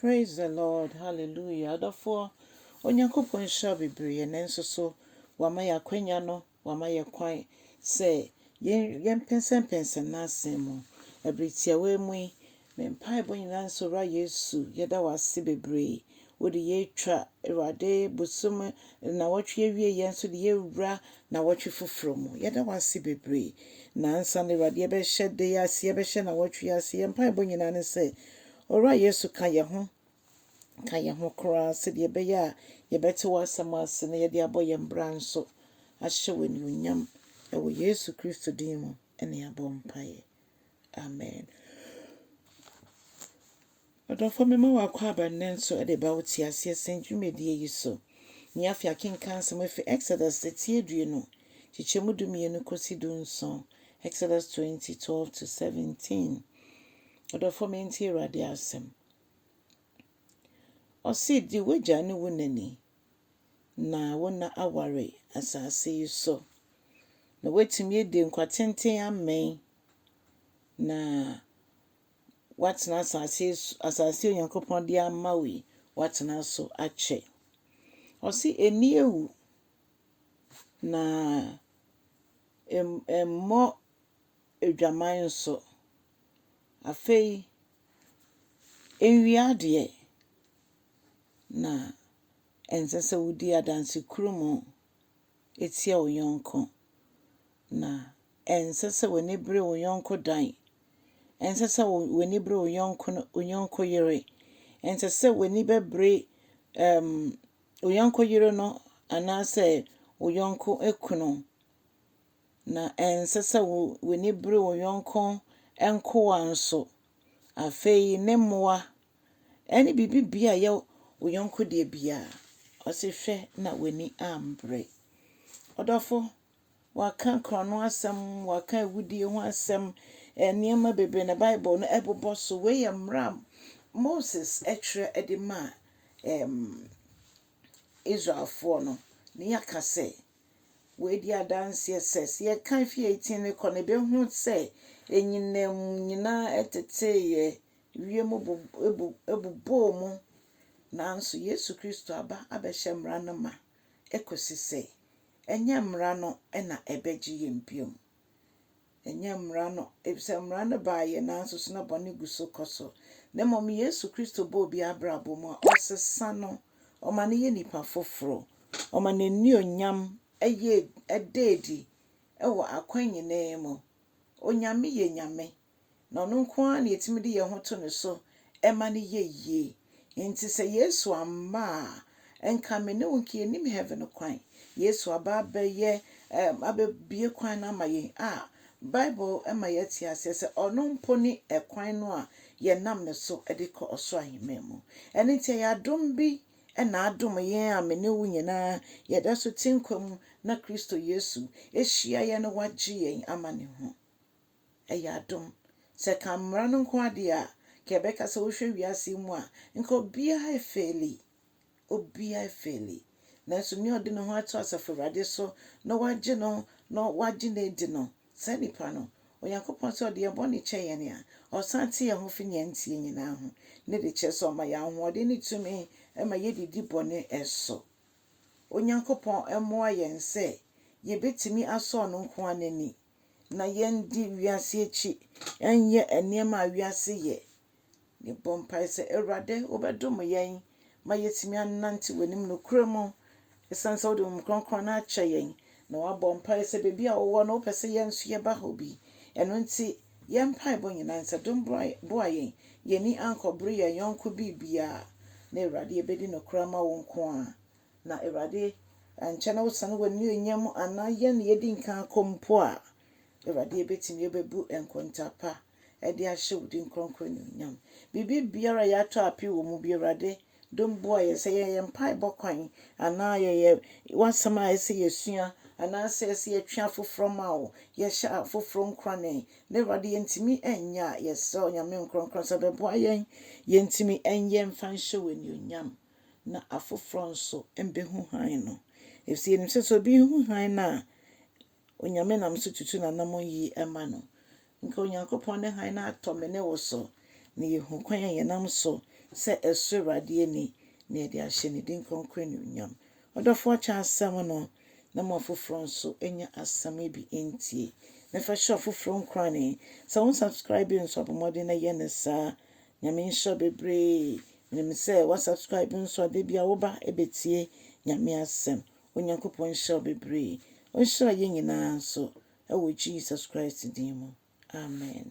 Praise the Lord hallelujah adɔfoɔ Onyankopɔn nhyira bebree yɛ nan nso so wama yɛ akwanya no wama yɛ kwan sɛ yɛn yɛn pɛnsɛmpɛnsɛm n'asɛm mu ɛbere tiawa mu yi me mpaebɔ nyinaa nso wura Yesu yɛda wase bebree wode yɛatwa awurade bosom na wɔtwe awie yɛn nso de yɛwura na wɔtwe foforɔ mu yɛda wase bebree na ansa na awurade yɛbɛhyɛ de ase yɛbɛhyɛ na wɔtwe ase yɛn mpaebɔ nyinaa ne sɛ Owura Yesu ka yɛn ho, ka yɛn ho koraa sɛdeɛ ɛbɛyɛ a yɛbɛte w'asɛm ase na yɛde abɔ yɛn bra nso ahyɛ wo anuonyam. Ɛwɔ Yesu Kristo din mu na yɛabɔ mpaeɛ. Amen. Ɔdɔfoɔ mema wo akwaaba nnɛ nso de ba wo te aseɛ sɛn dwumadie yi so. Nea afei akenkan asɛm afiri Exodus sɛ tie due no, kyekyɛ mu dumienu kɔsi du nson, Exodus 20, 12 to 17. Adɔfo mentie Awurade asɛm. Ɔse di w'agya ne wo na ni. Na wo na aware asase yi so. Na woatumi adi nkwatenten amɛn. Na woatena asase yi so, asase yi Onyankopɔn de ama wo yi, woatena so akyɛ. Ɔse ɛni awu. Na ɛmmɔ adwaman nso. Afei, enwia deɛ, na ɛnsɛ sɛ wodi adansekurum tia wo yɔnko, na ɛnsɛ sɛ w'ani bere wo yɔnko dan, ɛnsɛ sɛ w'ani bere wo yɔnko no wo yɔnko yere, ɛnsɛ sɛ w'ani bɛbere ɛɛm wo yɔnko yere no anaasɛ wo yɔnko kunu. Na ɛnsɛ sɛ w'ani bere wo yɔnko nkoa nso. Afei ne mmoa ne biribiara a ɛyɛ wo yɔnko deɛ biara, ɔse hwɛ na w'ani ambre. Ɔdɔfo, wɔaka korɔno asɛm, wɔaka awudie ho asɛm, nneɛma bebree na Bible no ɛbobɔ so. Wei yɛ mmara a Moses twerɛ de maa Israelfoɔ no. Ne yɛaka sɛ, Wei di adanseɛ sɛ, sɛ yɛka Efietine no kɔ no, yɛbɛhu sɛ anyinam nyinaa teteeɛ, wiem bu bu bobɔɔ mu, nanso Yesu Kristo aba abɛhyɛ mmara no ma kɔsi sɛ ɛnyɛ mmara no na ɛbɛgye yɛn bio. Ɛnyɛ mmara no, efisɛ mmara no baa yɛn ara nso so na bɔne gu so kɔ so, na mmom Yesu Kristo bɔ obi abrabɔ mu a, ɔsesa no, ɔma no yɛ nipa foforo, ɔma n'anuonyam yɛ ɛda adi wɔ akwan nyinaa mu. Onyame yɛ Nyame, na ɔno nko ara na yɛtumi de yɛn ho to ne so ma no yɛ yie. Nti sɛ Yesu amma a, nka me ne wo nka yɛnim heaven kwan. Yesu aba abɛyɛ ɛm abɛbie kwan no ama yɛn a, Bible ma yɛte aseɛ sɛ ɔno mpo ne ɛkwan no a yɛnam ne so de kɔ ɔsoro ahemman mu. Ɛno nti ɛyɛ adom bi na adom yɛn a me ne wo nyinaa yɛda so te nkwa mu na Kristo Yesu hyia yɛn na wagye yɛn ama ne ho. Ɛyɛ adom. Sɛ ɛka mmara no nko ara deɛ a, nka yɛbɛka sɛ wohwɛ wiase yi mu a, nka obiara afeeli. Obiara afeeli. Nanso nea ɔde ne ho ato Asafo Awurade so na wagye no na wagye no adi no, saa nipa no, Onyankopɔn sɛ ɔde yɛn bɔne kyɛ yɛn a, ɔsan te yɛn ho fi nea ɛnteɛ nyinaa ho, ne de kyerɛ sɛ ɔma yɛn ahoɔden ne tumi ma yɛde di bɔne so. Onyankopɔn mmoa yɛn sɛ yɛbɛtumi asɔ ɔno nko ara n'ani. na yɛndi wiase akyi, yɛnyɛ nneɛma a wiase yɛ. Yɛbɔ mpae sɛ, Awurade, wobɛdom yɛn ma yɛatumi anante w'anim nokorɛ mu, ɛsiane sɛ wode Honhom Kronkron no akyɛ yɛn, na woabɔ mpae sɛ baabi a wowɔ no, wopɛ sɛ yɛn nso yɛba hɔ bi. Ɛno nti, yɛn mpaebɔ nyinaa nsɛ dom boa yɛn, yɛn ani ankɔbere yɛn yɔnko biribiara, na Awurade yɛbɛdi nokorɛ ama wo nko ara. Na Awurade, ankyɛ na wosane w'anuonyam mu anaa yɛn na yɛadi nkan akɔ mpo a, Awurade, yɛbɛtumi yɛbɛbu nkontaa pa de ahyɛ wo din kronkron anuonyam. Biribi biara a yɛatɔ ape wɔ mu bi, Awurade, dom boa yɛn. Sɛ ɛyɛ yɛn mpaebɔ kwan anaa ɛyɛ w'asɛm a ɛsɛ yɛsua anaasɛ ɛsɛ yɛtwe afoforɔ ma wo, yɛhyɛ afoforɔ nkurane na Awurade yɛntumi nyɛ a, yɛsrɛ wo Nyame Nkronkron sɛ bɛboa yɛn yɛntumi nyɛ mfa nhyɛ wo anuonyam. na afoforɔ nso bɛhu hann no. Ɛfiri sɛ yɛnim sɛ, sɛ obi hu hann no a, Onyame nam so tutu n'anammɔn yie ma no. Nka Onyankopɔn ne hann no atɔ me ne wo so, na yɛhu kwan a yɛnam so sɛ ɛsɔ Awurade ani, na yɛde ahyɛ ne din kronkron animuonyam. Ɔdɔfoɔ kyɛ asɛm no, na ma afoforɔ nso nya asɛm yi bi ntie, na fa hyɛ afoforɔ nkuran. Sɛ wo nsubscribe nso a, bɔ mmɔden na yɛ no saa. Nyame nhyira wo bebree. Menim sɛ wa subscribe nso a da bi a wo ba bɛtie Nyame asɛm. Onyankopɔn nhyira wo bebree. Ɔnhyira yɛn nyinaa nso wɔ Jesus Christ din mu. Amen.